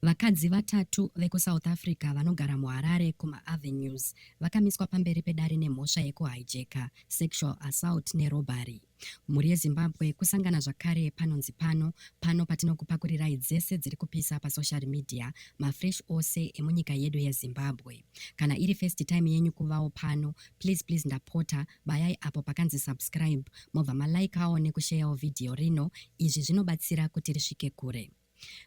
Vakadzi vatatu vekuSouth Africa vanogara muHarare kumaAvenues vakamiswa pamberi pedare nemhosva yekuhijacker, sexual assault nerobbery. Mhuri yeZimbabwe kusangana zvakare panonzi pano, pano patinokupakurirai dzese dziri kupisa pasocial media, mafresh ose emunyika yedu yeZimbabwe. Kana iri first time yenyu kuvawo pano, please please ndapota bayai apo pakanzi subscribe mobva malikeawo nekusheyawo vhidhiyo rino, izvi zvinobatsira kuti risvike kure.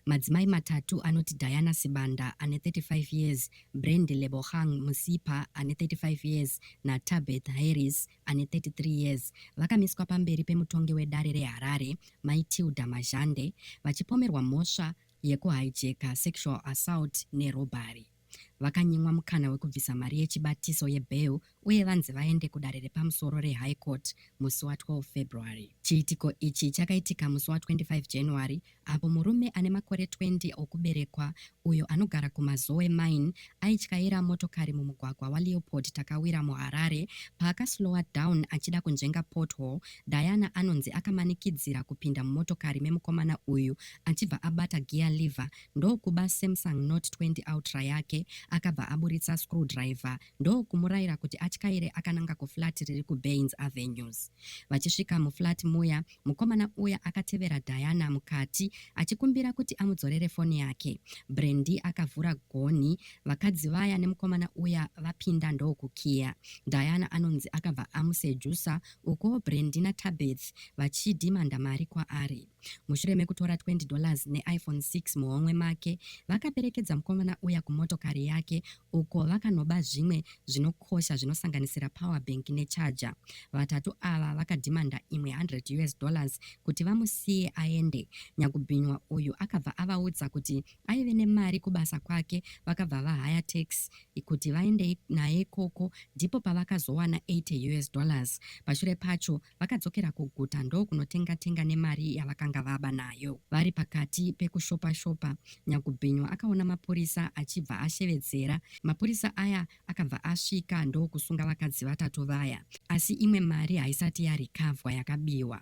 Madzimai matatu anoti Diana Sibanda ane 35 years, Brand Lebogang Musipa ane 35 years naTabeth Harris ane 33 years vakamiswa pamberi pemutongi wedare reHarare, Mai Tilda Mazhande, vachipomerwa mhosva yekuhijacka, sexual assault nerobhari. vakanyimwa mukana wekubvisa mari yechibatiso yebail uye vanzi vaende kudare repamusoro reHigh Court musi wa 12 February. Chiitiko ichi chakaitika musi wa 25 January apo murume ane makore 20 okuberekwa uyo anogara kuMazowe Mine aityaira motokari mumugwagwa waLeopold Takawira muHarare paakaslowa down achida kunzvenga pothole, Diana anonzi akamanikidzira kupinda mumotokari memukomana uyu achibva abata gear lever ndokuba Samsung Note 20 Ultra yake akabva aburitsa screwdriver ndokumuraira kuti atyaire akananga kuflat riri kuBaines Avenues. Vachisvika muflat muya, mukomana uya akatevera Diana mukati achikumbira kuti amudzorere foni yake. Brandy akavhura gonhi, vakadzi vaya nemukomana uya vapinda ndokukiya. Diana anonzi akabva amusejusa ukuwo Brandy naTabeth vachidhimanda mari kwaari. Mushure mekutora 20 dollars neIPhone 6 muhomwe make, vakaperekedza mukomana uya kumotokari yake uko vakanoba zvimwe zvinokosha zvinosanganisira power bank necharger. Vatatu ava vakadhimanda imwe 100 us dollars kuti vamusiye aende. Nyakubhinywa uyu akabva avaudza kuti aive nemari kubasa kwake vakabva vahaya tax kuti vaende naye ikoko ndipo pavakazowana 80 us dollars. Pashure pacho Vakadzokera kuguta ndokunotenga tenga nemari yavakanga vaba nayo. Vari pakati pekushopa shopa, Nyakubhinywa akaona mapurisa achibva ashevedzera. Mapurisa aya akabva asvika ndokusunga vakadzi vatatu vaya. Asi imwe mari haisati yarekavhwa yakabiwa.